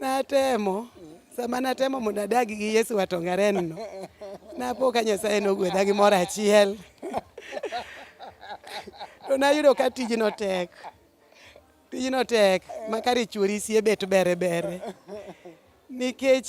Natemo sama natemo mondo adagi gi Yesu watongarenno napo ka Nyasaye nogwedha gi moro achiel to nayudo ka tijno tek tijno tek makare chuori sie bet bere bere nikech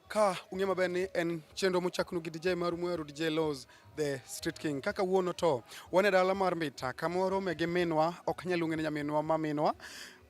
Ka ung'e maber ni en chenro mochaknu gi DJ mar Mweru DJ Laws the Street King. Kaka wuono to wan e dala mar Mbita kamoro me gi minwa ok nyal ung'e ni nyaminwa ma minwa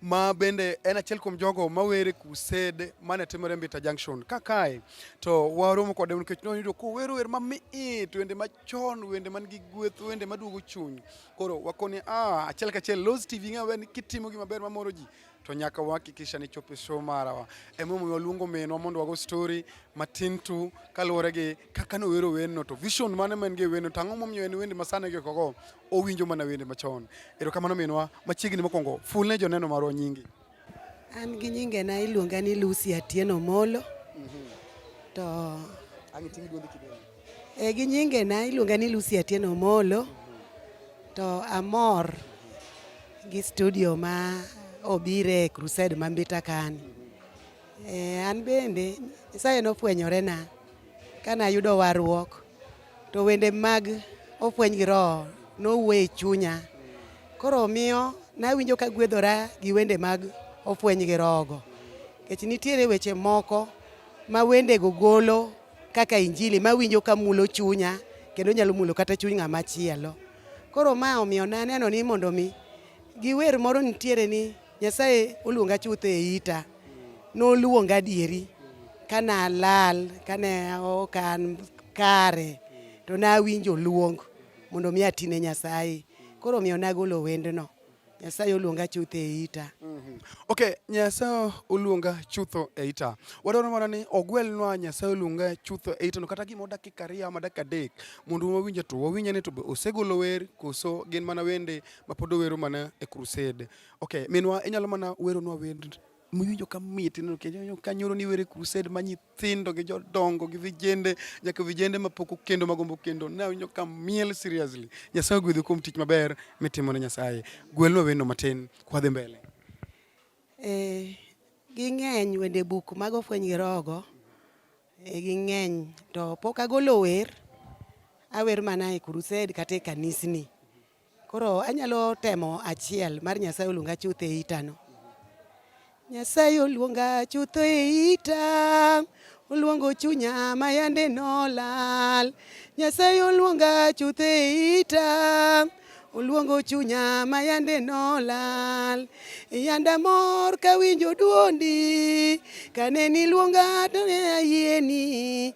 ma bende en achiel kuom jogo mawere kused mane timore Mbita Junction. Ka kae to waromo kode nikech noyudo kowero wer mamit, wende machon, wende man gi gweth, wende maduogo chuny. Koro wakoni ah, achiel kachiel Laws TV ng'e maber ni kitimo gima ber mamoro ji to nyaka wahakikisha ni chopo show marawa. Emomiyo waluongo minwa mondo wago story matin tu kaluwore gi kaka nowero wendno to vision mane ma en gi wendno to ang'o momiyo en wende masani gi kogo owinjo mana wende machon. Erokamano minwa machiegni mokwongo ful ne joneno marwa nyingi. An gi nyinge na iluonga ni Lucy Atieno Molo. Mm -hmm. To Ang' iting' duondi kidogo. E, gi nyinge na iluonga ni Lucy Atieno Omolo to amor gi studio ma obire e Crusade ma Mbita kani. E, an bende Nyasaye nofwenyore na kane ayudo warruok to wende mag ofweny gi roho nowuoyo e chunya koro miyo nawinjo ka gwedhora gi wende mag ofweny gi roho go. Nikech nitiere weche moko ma wendego golo kaka injili mawinjo ka mulo chunya kendo nyalo mulo kata chuny ng'ama chielo. Koro ma omiyo ne aneno ni mondo mi giwer moro nitiere ni Nyasaye oluonga chutho e ita. Noluonga adieri kane alal, kane ok an kare to nawinjo luong mondo mi atine Nyasaye. Koro omiyo nagolo wendno. Nyasaye oluonga chutho e ita. Mm -hmm. Okay, Nyasaye oluonga chutho e ita. Wadwaro mana ni ogwelnwa Nyasaye oluonga chutho e ita no kata gimo dakika ariyo ama dakika adek mondo wawinje to wawinje ni to be osegolo wer koso gin mana wende mapod owero mana e crusade. Okay, minwa inyalo mana weronwa wend miwinjo ka mit ineno kendo ka nyoro ni were crusade ma nyithindo gi jodongo gi vijende nyaka vijende ma pok okendo ma gombo kendo ne awinjo ka miel seriously nyasaye ogwedhi kuom tich maber mitimo ne nyasaye gwelno wendo matin kwadhi mbele eh ging'eny wende buk mago fweny gi rogo eh, ging'eny to pok agolo wer awer mana e crusade kata e kanisni Koro anyalo temo achiel mar Nyasaye oluonga chuth e itano. Nyasaye oluonga chuth e ita, oluongo chunya ma yande nolal. Nyasaye oluonga chuth e ita, oluongo chunya ma yande nolal. Yanda mor kawinjo duondi, kane niluonga to ne ayieni.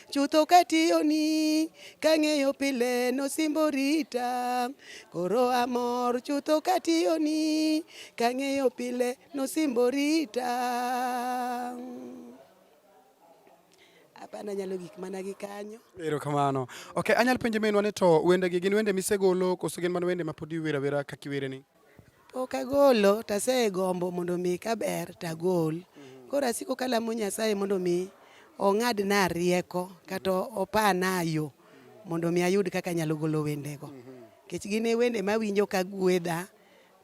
chutho katiyoni kang'eyo pile nosimbo rita koro amor chutho katiyoni kang'eyo pile nosimbo rita apana nyalo gik mana gi kanyo. Ero kamano. Okay, anyal penje menwa ni to wende gi gin wende misegolo koso gin mana wende ma podi iwera wera kaka iwere ni? Pok agolo to asegombo mondo mi ka ber to agol. Mm-hmm. Koro asiko kalamo Nyasaye mondo mi ong'adna rieko kata mm-hmm. opana yo mm-hmm. mondo mi ayud kaka anyalo golo wendego. Nikech gin e wende mawinjo ka gwedha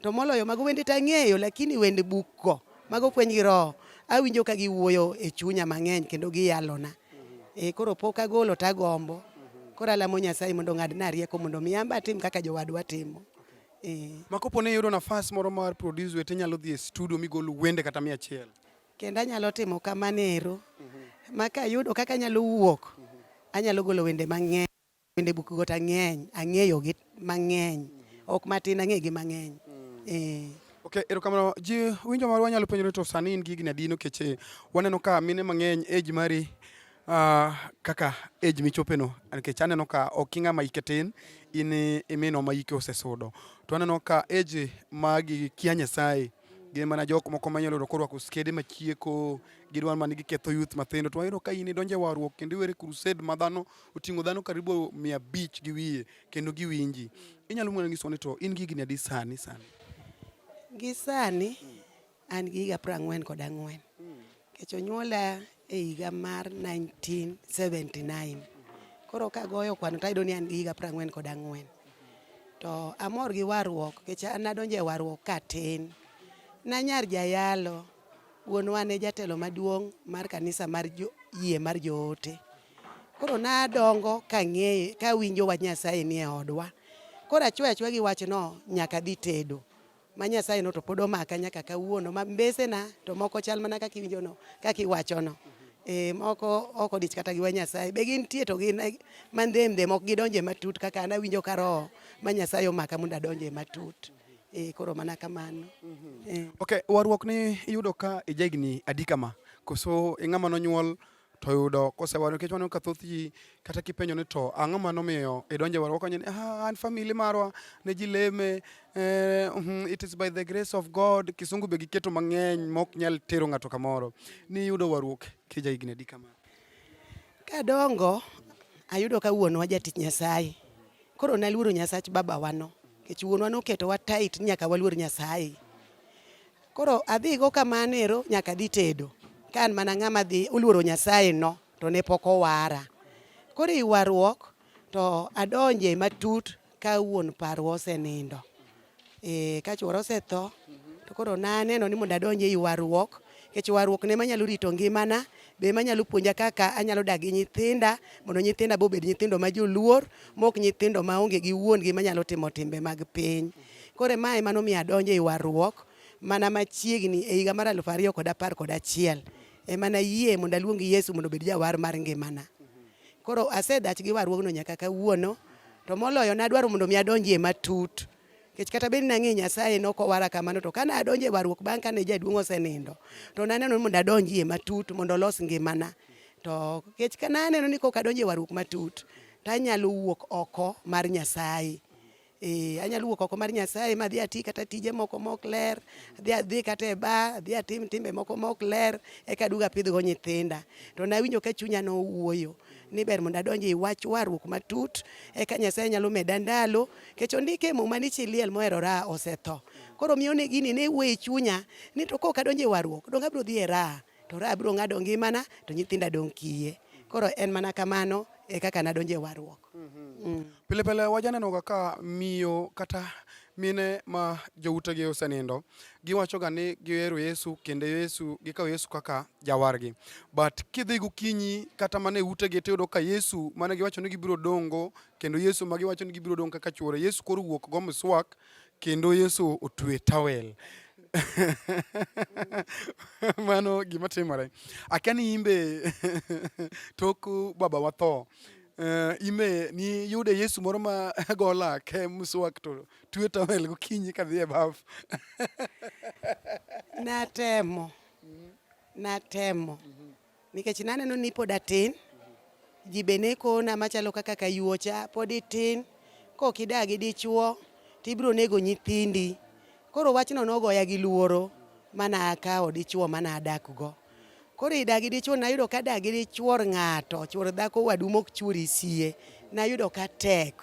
to moloyo mago wende to ang'eyo lakini wende bukgo mago fweny gi roho awinjo ka giwuoyo e chunya mang'eny kendo giyalona. E, koro pok agolo to agombo. Koro alamo Nyasaye mondo ong'adna rieko mondo mi an be atim kaka jowadwa timo. Eh. Ma kopo ne iyudo nafas moro mar produce wete nyalo dhi e studio migol wende kata mia achiel. Kendo anyalo timo kamano ero. Mhm. Ma ka ayudo kaka anyalo wuok, mhm. anyalo golo wende mang'eny. Wende buk got ang'eny, ang'eyo gi mang'eny. Mhm. Ok matin ang'e gi mang'eny. Mm. Eh. Okay, erokamano. Ji winjo marwa nyalo penjore to sani in gi higni adi nikech eh, waneno ka mine mang'eny age mari Uh, kaka age michopeno nikech aneno ka ok ing'ama ike tin in imino ma ike osesudo to aneno ka age magi kia nyasaye gin mana jok moko manyalo yudo korwako skede machieko gidwa mana giketho youth mathindo to wayudo ka in idonje warruok kendo iwere crusade ma dhano oting'o dhano karibu mia abich gi wiye kendo giwinji inyalo mwana nyiso ni to in gi higni adi sani sani gi sani An gi higa piero ang'wen kod ang'wen nikech onyuola e higa mar 1979 koro kagoyo kwano tayudo ni an gi higa piero ang'wen kod ang'wen to amor gi warruok nikech an nadonjo e warruok katin nanyar jayalo wuonwa ne jatelo maduong' mar kanisa mar yie mar joote koro nadongo kang'eye kawinjo wach Nyasaye nie odwa koro achwe achwe gi wachno nyaka dhi tedo ma Nyasaye no to pod omaka nyaka kawuono ma mbesena to moko chal mana kaka iwinjono kaka iwachono e, moko ok odich kata gi wa Nyasaye be gintie to gin eh, mandhemdhem ok gidonje matut kaka an awinjo ka roho ma Nyasaye omaka mondo adonje matut e, koro mana kamano e. Okay, warruok ni iyudo ka ijegni adika ma koso ing'ama nonyuol to yudo kosewa nikech waneno ka thoth ji kata kipenjo ni to ang'o ma nomiyo idonje warwa kanya ni ah, an family marwa ne ji leme eh, mhm, it is by the grace of God kisungu be giketo mang'eny mok nyal tero ng'ato kamoro ni yudo warruok kija higni adi kama kadongo ayudo ka wuonwa jatich Nyasaye koro naluoro Nyasach babawano nikech wuonwa noketowa tight nyaka waluor Nyasaye Koro adhigo kamano ero nyaka adhi tedo. Ka an mana ng'ama dhi oluoro Nyasaye no to ne pok owara. Koro i warruok to adonje matut ka wuon parwa osenindo. E, ka chuora osetho to koro naneno ni mondo adonje i warruok nikech warruok ne manyalo rito ngimana be manyalo puonja kaka anyalo dak gi nyithinda mondo nyithinda be obed nyithindo ma joluor mok nyithindo ma onge gi wuon gi manyalo timo timbe mag piny. Koro ma ema nomiyo adonjo e warruok mana machiegni e higa mar aluf ariyo kod apar kod achiel ema nayie mondo aluong Yesu mondo obed jawar mar ngimana. Koro asedach gi warruogno nyaka kawuono to moloyo nadwaro mondo mi adonjie matut kech kata bed nang'e Nyasaye ne ok owara kamano to kane adonjo e warruok bang' kane jaduong' osenindo to naneno mondo adonjie matut mondo olos ngimana to kech ka naneno ni kok adonjo e warruok matut tanyalo wuok oko mar Nyasaye Eh, anyalo wuok oko mar Nyasaye ma adhi ati kata tije moko mok ler, adhi adhi kata e ba, adhi atim timbe moko mok ler, eka aduogo apidhgo nyithinda. To nawinjo ka chunya nowuoyo ni ber mondo adonj e wach warruok matut, eka Nyasaye nyalo meda ndalo, kech ondike e muma ni chi liel mohero raha osetho. Koro miyo ne gini ne wuoyo e chunya ni to kok adonjo e warruok, donge abiro dhi e raha. to ra abiro ng'ado ngimana to nyithinda dong' kiye. Koro en mana kamano e kaka nadonje warruok. Mm -hmm. mm. Pile pile wajaneno kaka miyo kata mine ma joutegi osenindo giwachoga ni gihero Yesu kendo Yesu gikawo Yesu kaka jawargi but kidhi gokinyi kata mana e utegi tiyudo ka Yesu mane giwacho ni gibiro dongo kendo Yesu ma giwacho ni gibiro dongo kaka chuore Yesu koro wuok go miswak Kendo Yesu otwe towel. Mano gima timore. Akia ni imbe tok baba watho. Uh, ime ni yude Yesu moro ma gola ke muswak to twe towel gokinyi ka dhi e baf. Natemo. Natemo. Nikech naneno ni pod atin, ji be ne kona machalo kaka kayuocha, pod itin, kok idagi dichuo, tibiro nego nyithindi. Koro wachno nogoya gi luoro mana akawo dichuo mana adakgo. Koro idagi dichuo nayudo ka dagi dichuor ng'ato, chuor dhako wadu mok chuori sie, nayudo ka tek.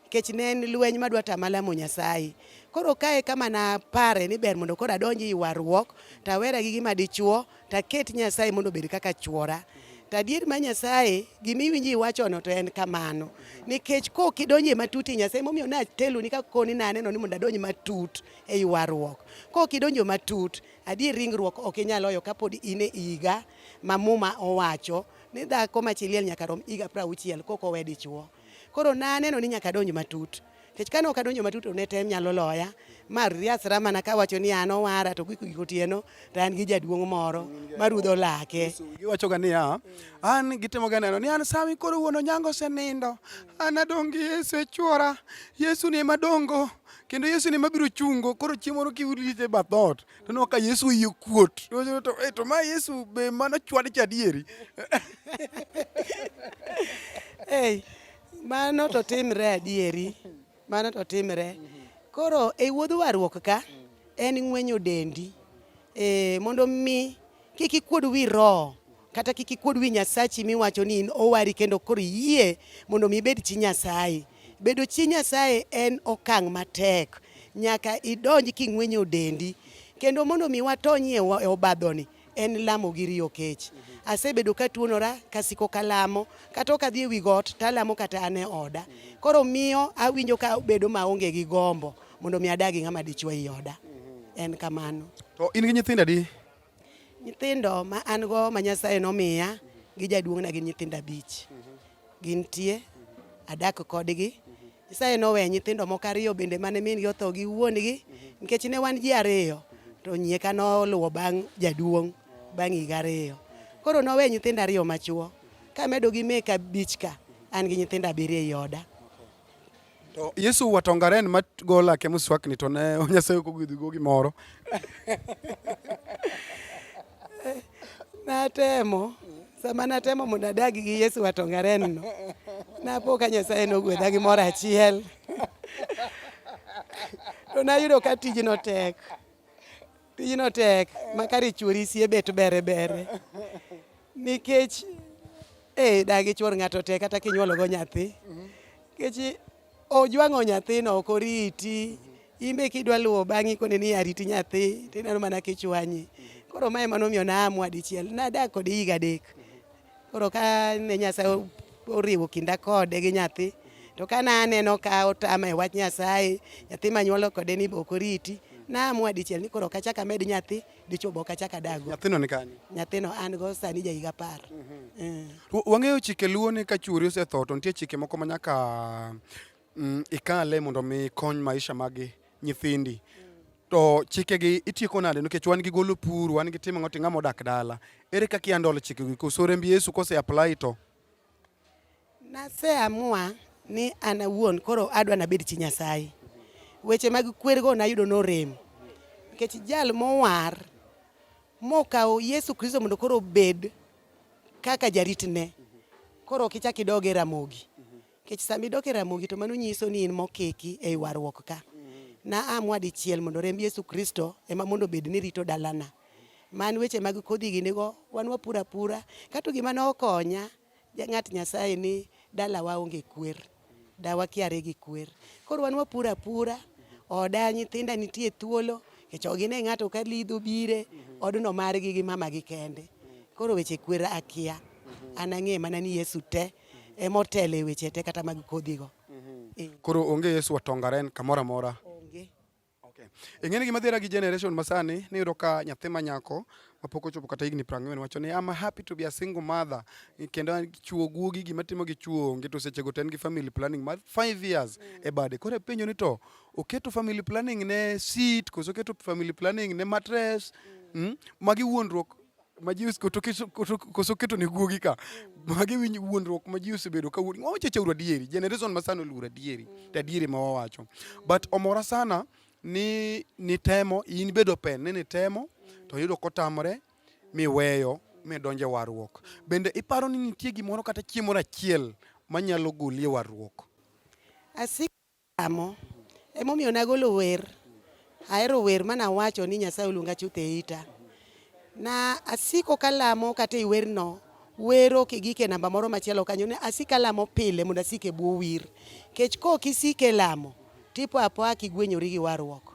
nikech ne en lweny madwa tama lamo Nyasaye. Koro kae kama napare ni ber mondo koro adonj i warruok to awera gi gima dichuo to aket Nyasaye mondo obed kaka chuora. To adier ma Nyasaye gima iwinjo iwachono to en kamano nikech kok idonjo e matut i Nyasaye momiyo nateloni ka koni naneno ni mondo adonj matut e ywaruok. Kok idonjo matut adier ringruok ok inyal oyo kapod in e higa ma muma owacho ni dhako ma chi liel nyaka rom higa prauchiel kok owe dichuo. Koro naneno ni nyaka adonj matut. Nikech kane ok adonjo matut to ne tem nyalo loya. Ma riasra mana kawacho ni an owara to giko giko otieno to an gi jaduong' moro marudho lake. Giwachoga niya, an gitimoga neno ni an sami koro wuon onyango osenindo. An adong' gi Yesu e chwora. Yesu ni ema dongo. Kendo Yesu ni ema biro chungo. Koro chieng' moro kiwuotho e bath dhoot, to no ka Yesu oyie kuot to to, to, to ma Yesu be mano chwad cha adieri Ei, mano to timre adieri mano to timre koro e wuodh warruok ka en ng'wenyo dendi e, mondo mi kik ikuod wi roho kata kik ikuod wi Nyasachi miwacho ni in owari kendo koro iyie mondo mi ibed chi Nyasaye. Bedo chi Nyasaye en okang' matek, nyaka idonj king'wenyo dendi kendo mondo mi watonyie e obadhoni en lamo gi riyo kech. Asebedo ka tuonora kasiko kalamo kata ok adhi e wi got talamo kata an e oda. Koro miyo awinjo ka bedo maonge gi gombo mondo mi adagi ng'ama dichwa i oda. En kamano. To in gi nyithindo adi? Nyithindo ma an go ma Nyasaye nomiya gi jaduong'na gin nyithindo abich. Gintie, adak kodgi. Nyasaye noweya nyithindo moko ariyo bende mane min gi otho gi wuon-gi nikech ne wan ji ariyo to nyieka noluwo bang' jaduong' bang' higa ariyo. Koro noweya nyithindo ariyo machuo kamedo gi meka abich ka an gi nyithindo abiriyo ei oda. To Yesu watongaren ma go lake muswakni to ne Nyasaye ok ogwedhi go gimoro. Natemo sama natemo mondo adag gi Yesu watongaren no. Napo ka Nyasaye nogwedha gi moro achiel. To nayudo ka tijno tek. Tijno tek makari chuori sie bet bere bere nikech eh, dagi chuor ng'ato tek kata kinyuologo nyathi nikech ojwang'o nyathino ok oriti imbe kidwa luwo bang'i koni ni ariti nyathi tineno mana kichwanyi koro mae manomiyo naamua dichiel nadak kode higa adek Koro ka ne Nyasaye oriwo kinda kode gi nyathi to ka na aneno ka otama e wach Nyasaye nyathi manyuolo kode ni ok oriti naamua dichiel ni koro kachaka med nyathi dichuo bok achaka dago. Nyathino ni kanye? Nyathino an go sani ja higa apar. Mm -hmm. mm. Wang'eyo chike luo ni ka chuori osetho to nitie chike moko ma nyaka mm, ikale mondo mi kony maisha magi nyithindi to chikegi itieko nade nikech wan gi golo pur wan gi timo ng'oto ng'ama odak dala ere kaka iandolo chikegi koso remb yesu kose apply to naseamua ni an awuon koro adwa nabed chi nyasaye weche mag kwergo nayudo norem nikech jal mowar mokawo yesu kristo mondo koro obed kaka jaritne koro ok ichak idoge ramogi Kech sama idok e Ramogi to mano nyiso ni in mokeki e warruok ka. Na amwa dichiel mondo remb Yesu Kristo ema mondo bed ni rito dalana. Man weche mag kodhi gi nigo wan wapura pura. Kato gima ne okonya ng'at Nyasaye ni dalawa onge kwer. Dawa kiare gi kwer. Koro wan wapura pura. Oda nyithinda nitie thuolo. Kech ok gine ng'ato ka lidho bire. Odno margi gi mama gi kende. Koro weche kwer akia. An ang'e mana ni Yesu te. ema otelo e weche te kata mag kodhigo. Eh. Koro onge Yesu otongaren kamoro amora. Onge. Okay. Ing'eni gima dhiera gi generation masani ni yudo ka nyathi ma nyako mapok ochopo kata higni prang'wen wacho ni I'm happy to be a single mother kendo chuo guogi gima timo gi chuo onge to seche go ten gi family planning mar 5 years mm. e bade koro penjo ni to oketo family planning ne seat koso oketo family planning ne mattress mm. mm, magi wuondruok ma ji koso keto ne guogi ka magi winj wuondruok ma ji osebedo ka wuondi wawacho chauru adieri generation ma sana oluor adieri to adieri ma wawacho but omora sana ni nitemo in bedo pen ni nitemo to yudo kotamore miweyo midonje warruok bende iparo ni nitie gimoro kata chiemo achiel manyalo golie warruok asik Lamo. Emomiyo nagolo wer. Ahero wer ma nawacho ni Nyasaye oluonga chuth e ita. Na asiko kalamo kata e werno, wer ok igik e namba moro machielo kanyo. Ne asiko alamo pile mondo asik e bwo wir. Nikech kok isiko e lamo, tipo apoya kigwenyori gi warruok.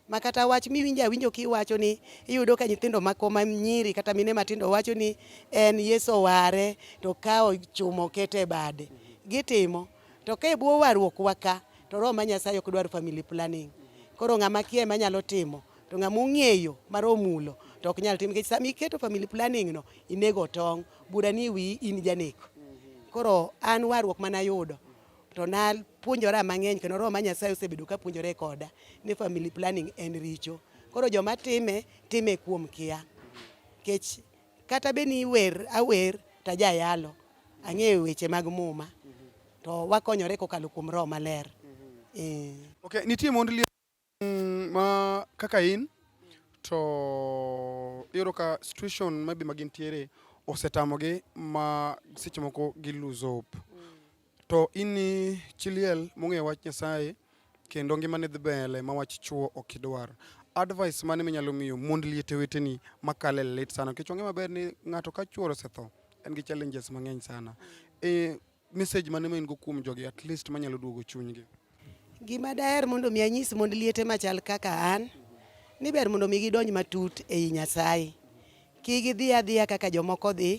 Ma kata wach miwinjo awinjo kiwacho ni iyudo ka nyithindo mako ma nyiri kata mine matindo wacho ni en Yesu oware to okawo chuma oketo e bade. Gitimo. To ka e bwo warruok wa ka to Roho ma Nyasaye ok dwar family planning. Koro ng'ama kia ema nyalo timo to ng'ama ong'eyo mar omulo to ok nyal timo nikech sama iketo family planning no inego tong' bura ni wi in janeko. Koro an warruok mana ayudo to napuonjora mang'eny kendo Roho ma Nyasaye osebedo ka puonjore koda ni family planning en richo. Koro joma time time kuom kia. Kech Kata be ni iwer awer to ajayalo, ang'eyo weche mag muma to wakonyore kokalo kuom roho maler. Eh. Okay, nitie mond liel mm, ma kaka in to iyudo ka situation maybe ma gintiere osetamogi ma seche moko gi lose hope. To in ni chi liel mong'eyo wach Nyasaye kendo ngimane dhi mbele ma wach chwo ok idwar. Advice mane minyalo miyo mond liete weteni makale lit sana nikech wang'e maber ni ng'ato ka chwore osetho en gi challenges mang'eny sana. E message mane ma in go kuom jogi at least manyalo duogo chunygi. Gima daher mondo mi anyis mond liete machal kaka an ni ber mondo mi gidonj matut ei Nyasaye. Ki gidhi adhiya kaka jomoko dhi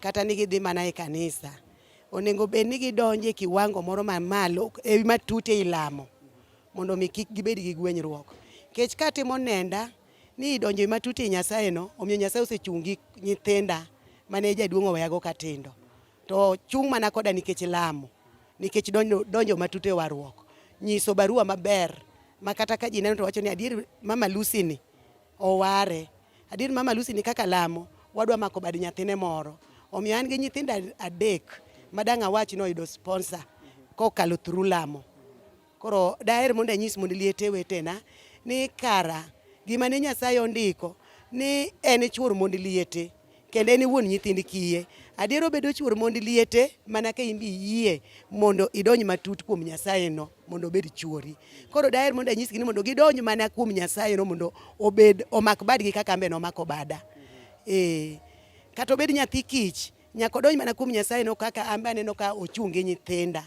kata ni gidhi mana e kanisa. Onego bed ni gidonje kiwango moro mamalo e matut ei lamo mondo mi kik gibed gi gwenyruok. Kech katimo nenda ni idonjo matut ei Nyasaye no, omiyo Nyasaye osechungi nyithinda mane jaduong' oweyago katindo. To chung' mana koda nikech lamo, nikech donjo, donjo matut e warruok, nyiso barua maber ma kata ka ji neno to wacho ni adier Mama Lucy ni oware, adier Mama Lucy ni kaka lamo wadwa mako bad nyathine moro. Omiyo an gi nyithindo adek madang' awach ni oyudo sponsor kokalo through lamo. Koro daher mondo anyis mond liete wetena ni kara gima ne Nyasaye ondiko ni en chuor mond liete kendo en wuon nyithind kiye. Adier obedo chuor mond liete mana ka imbi yie mondo idonj matut kuom Nyasaye no mondo obed chuori. Koro daher mondo anyisgi ni mondo gidonj mana kuom Nyasaye no mondo obed omak badgi kaka ambe nomako bada. Eh, kata obed nyathi kich Nyako donj mana kuom Nyasaye no kaka an bende no ka ochung' gi nyithinda.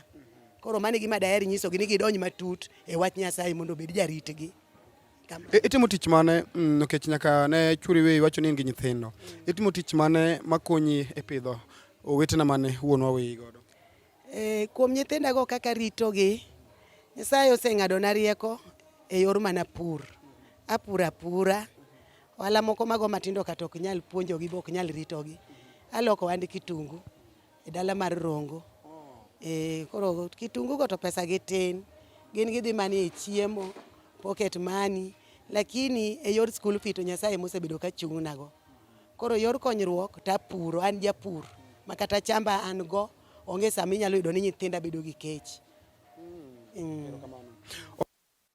Koro mano e gima daher nyisogi ni gidonj matut e wach Nyasaye mondo obed jaritgi. E, itimo tich mane mm, nikech nyaka ne churi we iwacho ni in gi nyithindo. Itimo tich mane makonyi e pidho owetena mane wuonwa weyi godo? E, kuom nyithindago kaka ritogi, Nyasaye oseng'adona rieko e yor mana pur. Apuro apura, ohala moko mago matindo kata ok nyal puonjogi be ok nyal ritogi. Aloko ohand kitungu e dala mar Rongo. E, koro kitungugo to pesagi tin, gin gidhi mana e chiemo, pocket money, lakini e yor school fee to Nyasaye ema osebedo ka chung'nago. Koro yor konyruok to apuro, an japur ma kata chamba an go onge sama inyalo yudo ni nyithinda bedo gi kech. Mm.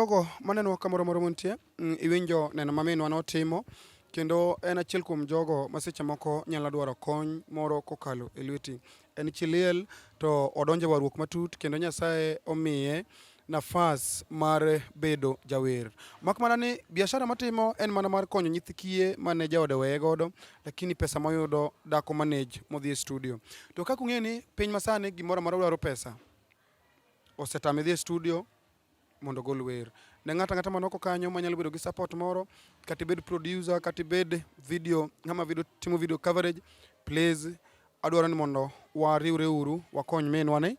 Jogo maneno kamoro moro montie, mm, iwinjo neno ma minwa notimo kendo en achiel kuom jogo ma seche moko nyalo dwaro kony moro kokalo e lweti. En chi liel to odonjo e warruok matut kendo Nyasaye omiye nafas mar bedo jawer. Mak mana ni biashara matimo en mana mar konyo nyithi kiye mane jaode weye godo, lakini pesa moyudo dako manage modhi e studio. To kaka ung'eyo ni piny masani gimoro amora dwaro pesa, osetame dhi e studio mondo ogol wer. Ne ng'ato ang'ata manoko kanyo manyalo bedo gi support moro, kata ibed producer, kata ibed video, ng'ama video, timo video coverage, please Adwaro ni mondo wariwre uru wakony minwa ni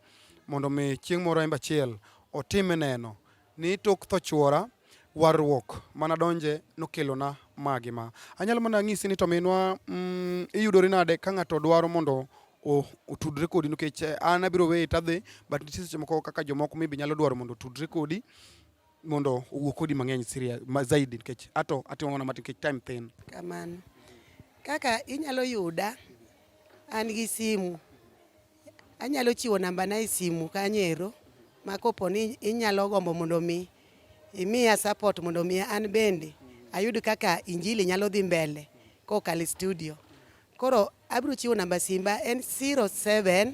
mondo mi chieng' moro embe achiel otime neno ni tok tho chuora warruok mana donje nokelona magi ma. Anyalo mana ng'isi ni to minwa mm, iyudori nade ka ng'ato dwaro mondo otudre kodi nikech eh, an abiro weye tadhi but nitie seche moko kaka jomoko maybe nyalo dwaro mondo otudre kodi mondo owuo kodi mang'eny siria ma zaidi nikech ato atimo mana matin nikech time thin. Kamano. Kaka inyalo yuda an gi simu anyalo chiwo namba na e simu kanyero ma kopo ni inyalo gombo mondo mi imiya support mondo mi an bende ayud kaka injili nyalo dhi mbele kokalo studio. Koro abiro chiwo namba simba en 07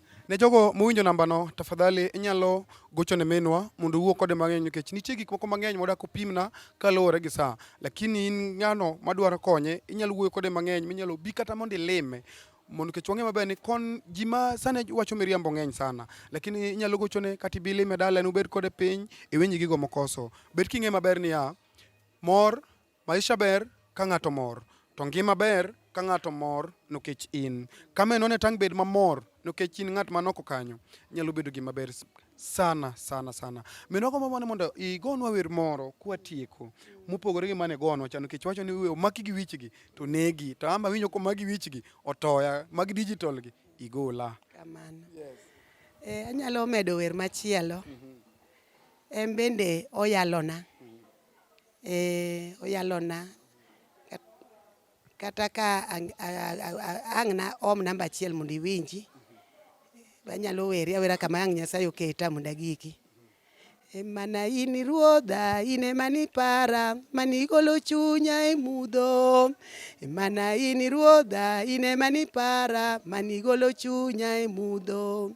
Ne jogo mowinjo nambano, tafadhali inyalo gocho ne minwa mondo uwuo kode mang'eny nikech nitie gik moko mang'eny modak opimna kaluwore gi saa. Lakini in ng'ano madwaro konye, inyalo wuoyo kode mang'eny minyalo bi kata mondo ilime mondo nikech wang'e maber ni kon ji ma sani wacho miriambo ng'eny sana lakini inyalo gochone kata ibi lime dalane ubed kode piny iwinj gigo mokoso. Bed king'e maber niya, mor Maisha ber ka ng'ato mor, to ngima ber ka ng'ato mor nikech in. Ka menone tang' bed mamor nikech in ng'at man oko kanyo, nyalo bedo gima ber sana sana sana. Minwa gombo mana mondo igonwa wer moro kwatieko mopogore gi mane gonwa cha nikech wacho ni we omaki gi wichgi to negi. To ama winjo komaki wichgi otoya, mag digital gi igola. Kamano. Yes. Eh, anyalo medo wer machielo. Mm -hmm. En bende oyalona. Ee, oyalona kata ka ang' na om namba achiel mondo iwinji banyalo weri awera kama ang' Nyasaye oketa mondo agiki mana in ruodha in ema nipara mani igolo chunya e mudho mana in ruodha in ema nipara mani igolo chunya e mudho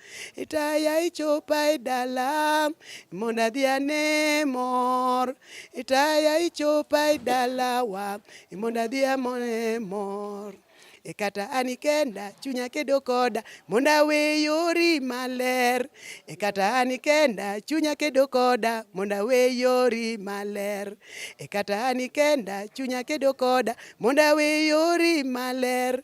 Itaya ichopa e dala mondo adhi ane mor. Itaya ichopa e dalawa mondo adhi amone mor. E kata an ikenda chunya kedo koda mondo awe yori maler. E kata an ikenda chunya kedo koda mondo awe yori maler. E kata an ikenda chunya kedo koda mondo awe yori maler.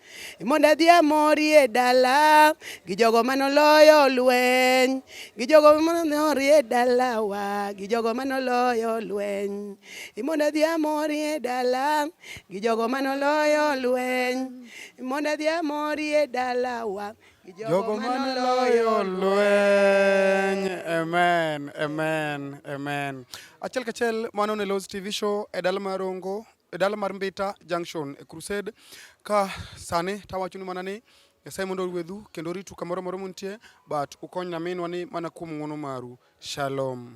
mondo adhi amorie dala gi jogo mane oloyo lweny gi jogo mane orie dalawa gi jogo mane oloyo lweny mondo adhi amorie dala gi jogo mane oloyo lweny mondo adhi amorie dalawa gi jogo mane oloyo lweny amen amen amen achiel kachiel mano ne Lows TV show e dala mar Rongo e dala mar Mbita Junction e Crusade ka sani tawachonu mana ni Nyasaye mondo orwedhu kendo oritu kamoro moro muntie but ukony naminwa ni mana kuom ng'wono maru. Shalom.